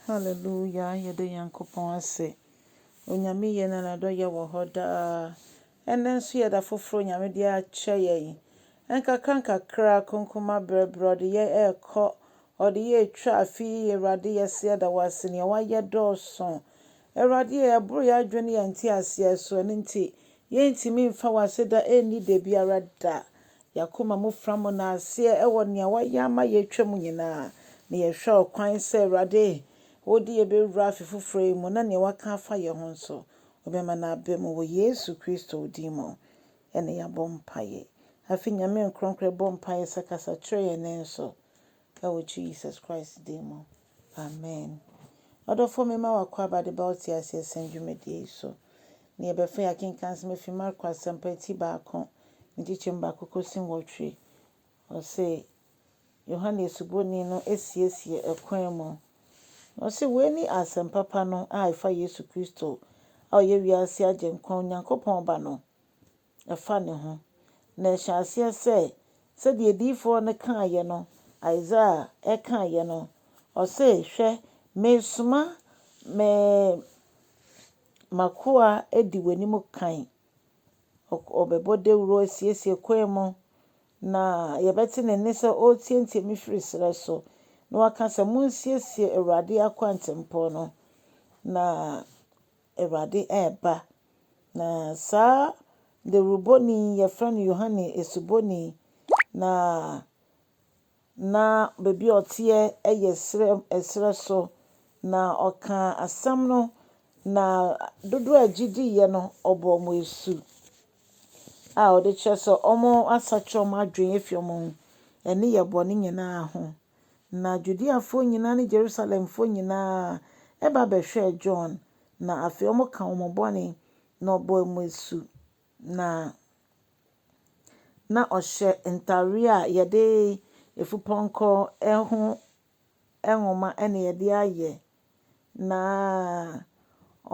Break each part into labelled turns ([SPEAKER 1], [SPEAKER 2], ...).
[SPEAKER 1] Hallelujah yɛda Nyankopɔn ase Onyame ye na nadɔyɛ wɔ hɔ daa Ɛnnɛ nso yɛ da foforo Onyame de akyɛ yɛn Nkakra nkakra konko mabrɛ brɛ ɔde yɛ ɛɛkɔ Ɔde yɛ ɛtwa afe yi Awurade yɛse yɛda wo ase Nea wayɛ dɔɔso Awurade e ɛboro yɛ adwene ne yɛn nteaseɛ so Ɛno nti Yɛrentumi mfa w'aseda nni da biara da. Y'akoma mu framo na aseɛ wɔ nea w'ayɛ ama yɛatwa mu nyinaa. Na yɛhwɛ ɔkwan sɛ, Awurade, wode yɛbɛwura afe foforɔ yi mu na nea w'aka afa yɛn ho nso, wobɛma no aba mu. Wɔ Yesu Kristo din mu na yɛabɔ mpaeɛ. Afei Nyame Nkronkron bɔ mpaeɛ sɛ, Kasa kyerɛ yɛn nne nso. Ɛwɔ Jesus Christ din mu, amen. Ɔdɔfoɔ mema wo akwaaba de ba wo teaseɛ sɛm dwumadie yi so. Neɛ ɛbɛfa yi akenkan nsɛm afiri Marko Asɛmpa ti baako ne nkyekyɛmu baako kɔsi nwɔtwe. Ɔse Yohane Asuboni no asiesie ɛkwan mu. Na ɔse wei ne Asɛmpa pa no a ɛfa Yesu Kristo a ɔyɛ wiase Agyenkwa, Onyankopɔn Ba no. ɛfa ne ho, na ɛhyɛ aseɛ sɛ, sɛdeɛ adiyifoɔ no kaeɛ no, Isaiah kaeɛ no, ɔse, Hwɛ, meresoma me m'akoa adi w'anim kan, ɔbɛbɔ dawuro asiesie kwan mu, na yɛbɛte ne nne sɛ ɔreteatea me firi serɛ so, na waka sɛ, Monsiesie Awurade akwantempɔn no, na Awurade reba. Na saa dawurubɔni yi, wɔfrɛ no Yohane Asubɔni, na na baabi a ɔteɛ yɛ serɛ serɛ so, na ɔkaa asɛm no, na dodoɔ a ɛgye diiɛ no, ɔbɔɔ wɔn asu a ɔde kyerɛ sɛ wɔasakyera wɔn adwene afiri wɔn nneyɛɛ bɔne nyinaa ho. Na Judeafoɔ nyinaa ne Jerusalemfoɔ nyinaa ba bɛhwɛɛ John, na afei wɔka wɔn bɔne, na ɔbɔɔ wɔn asu, na na ɔhyɛ ntareɛ a yɛde efupɔnkɔ ho nwoma na yɛde ayɛ, na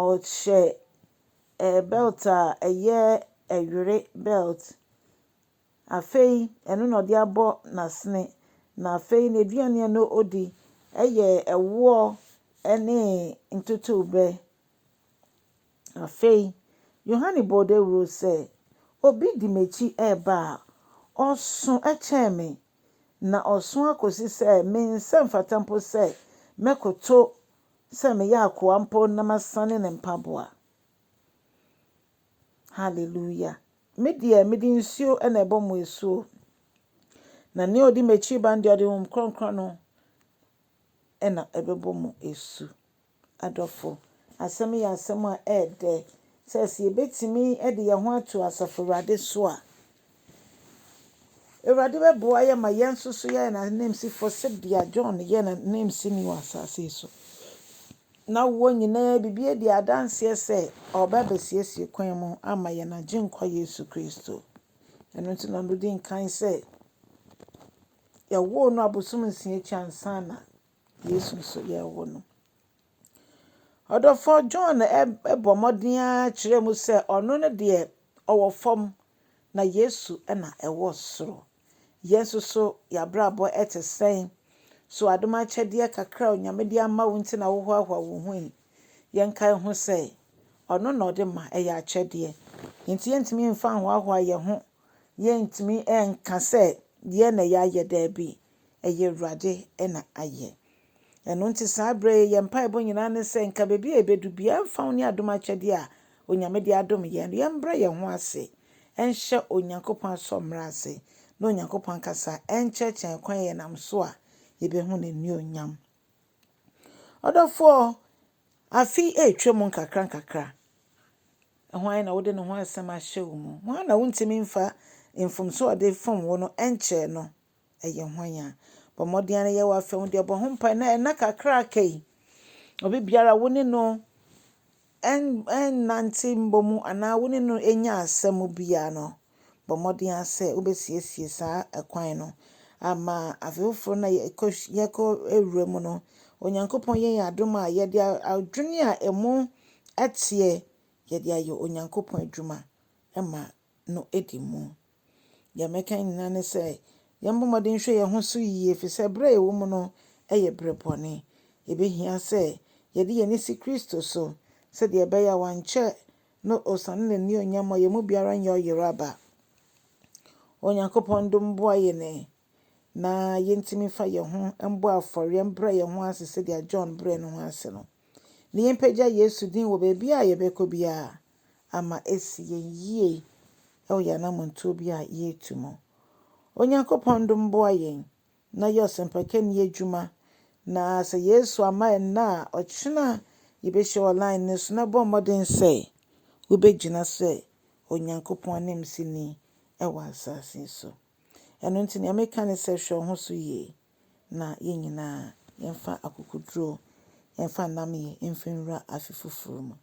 [SPEAKER 1] ɔhyɛ ɛɛ bɛlt a ɛyɛ ɛwere bɛlt. Afei ɛno na ɔde abɔ n'asene, na afei n'aduane a na odi yɛ ɛwoɔ ne ntotorobɛ. Afei Yohane bɔɔ dawuro sɛ, Obi di m'akyi reba a, ɔso kyɛn me, na ɔso akɔsi sɛ me nsa mfata mpo sɛ mɛkoto sɛ meyɛ akoa mpo na masane ne mpaboa. Hallelujah. Me deɛ mede nsuo na ɛbɔ mo asuo. Na nea ɔdi m'akyi ba no deɛ ɔde honhom kronkron no na ɛbɛbɔ mo asu. Adɔfo, asɛm yɛ asɛm a ɛyɛ dɛ sɛ sɛ yɛbɛtumi de yɛn ho ato Asafo Awurade so a, Awurade bɛboa yɛn ma yɛn nso so yɛayɛ n'ananmusifoɔ sɛdeɛ John yɛ n'ananmusini wɔ asase yi so. Na wɔn nyinaa biribi adi adanseɛ sɛ ɔba bɛsiesie kwan mu ama yɛn agyenkwa Yesu Kristo. Ɛno nti na ɔdi nkan sɛ yɛwoo no abosom nsia akyi ansa na Yesu nso yɛɛ wo no. Ɔdɔfoɔ John bɔ mmɔden ara kyerɛɛ mu sɛ ɔno no deɛ ɔwɔ fam na Yesu na ɛwɔ soro. Yɛn nso so yɛn abrabɔ te sɛn? So adom akyɛdeɛ kakra a Onyame de ama wo nti na wohoahoa wo ho yi? Yɛnkae ho sɛ ɔno na ɔde ma, ɛyɛ akyɛdeɛ. Enti yɛntumi mfa nhoahoa yɛn ho, yɛntumi nka sɛ yɛn na yɛayɛ, daabi. ɛyɛ Awurade na ayɛ. Ɛno nti saa berɛ yi yɛn mpaebɔ nyinaa ne sɛ nka baabi a yɛbɛdu biara mfa ho ne adom akyɛdeɛ a Onyame de adom yɛn no, yɛmbrɛ yɛn ho ase nhyɛ Onyankopɔn asɔmmrɛ ase na Onyankopɔn ankasa nkyerɛkyerɛ yɛn kwan a yɛnam so a yɛbɛhu N'annuonyam. Ɔdɔfoɔ, afe yi retwa mu nkakra nkakra. Hwan na wode ne ho asɛm ahyɛ wo mu? Hwan na wontumi mfa mfomsoɔ a ɔde fom wo no nkyerɛ no? ɛyɛ hwan a. Bɔ mmɔden ara na yɛ w'afɛ ho deɛ bɔ ho mpae na ɛna kakra aka yi obi biara wo ne no ɛnnante mbɔ mu anaa wo ne no ɛnya asɛm biara no bɔ mmɔden ara sɛ wobɛsiesie saa ɛkwan no ama afe foforɔ na yɛkɔ yɛkɔ awura mu no onyankopɔn yɛ yɛn adom a yɛde adwene a ɛmu ɛteɛ yɛde ayɛ onyankopɔn adwuma ɛma no di mu. Nea mɛka nyinaa ne sɛ, yɛmmɔ mmɔden nhwɛ yɛn ho so yiye, efisɛ bere a yɛwɔ mu no yɛ bere bɔne. Ebehia sɛ yɛde yɛn ani si Kristo so sɛnea ɛbɛyɛ a wankyɛ na osiane n'anuonyam a ɔyɛ mu biara nyɛ ɔyeraba. Onyankopɔn dom boa yɛn na yentumi mfa yɛn ho mbɔ afɔreɛ mbrɛ yɛn ho ase sɛdeɛ John brɛɛ ne ho ase no, na yɛmpagya Yesu din wɔ baabi a yɛbɛkɔ biara ama asi yɛn yie wɔ yɛn anammɔntuo bi a yɛretu mu. Onyankopɔn dom boa yɛn na yɛ ɔsɛmpakani adwuma na sɛ Yesu ama ɛnna a ɔkyena yɛbɛhyia wɔ line no so na bɔ mmɔden sɛ wobɛgyina sɛ Onyankopɔn ananmusini wɔ asase so. Ɛno nti nea meka ne sɛ hwɛ wo ho so yie na yɛn nyinaa yɛmfa akokoduro mfa nnamyɛ mfa nwura afe foforɔ mu.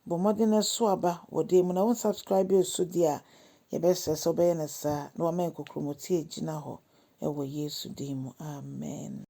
[SPEAKER 1] Bɔ mmɔden na ɛso aba wɔ dan mu na wo subscribe osu deɛ a yɛbɛsrɛ sɛ wobɛyɛ no saa na wama yɛn kokromoti agyina hɔ wɔ Yesu din mu. Amen.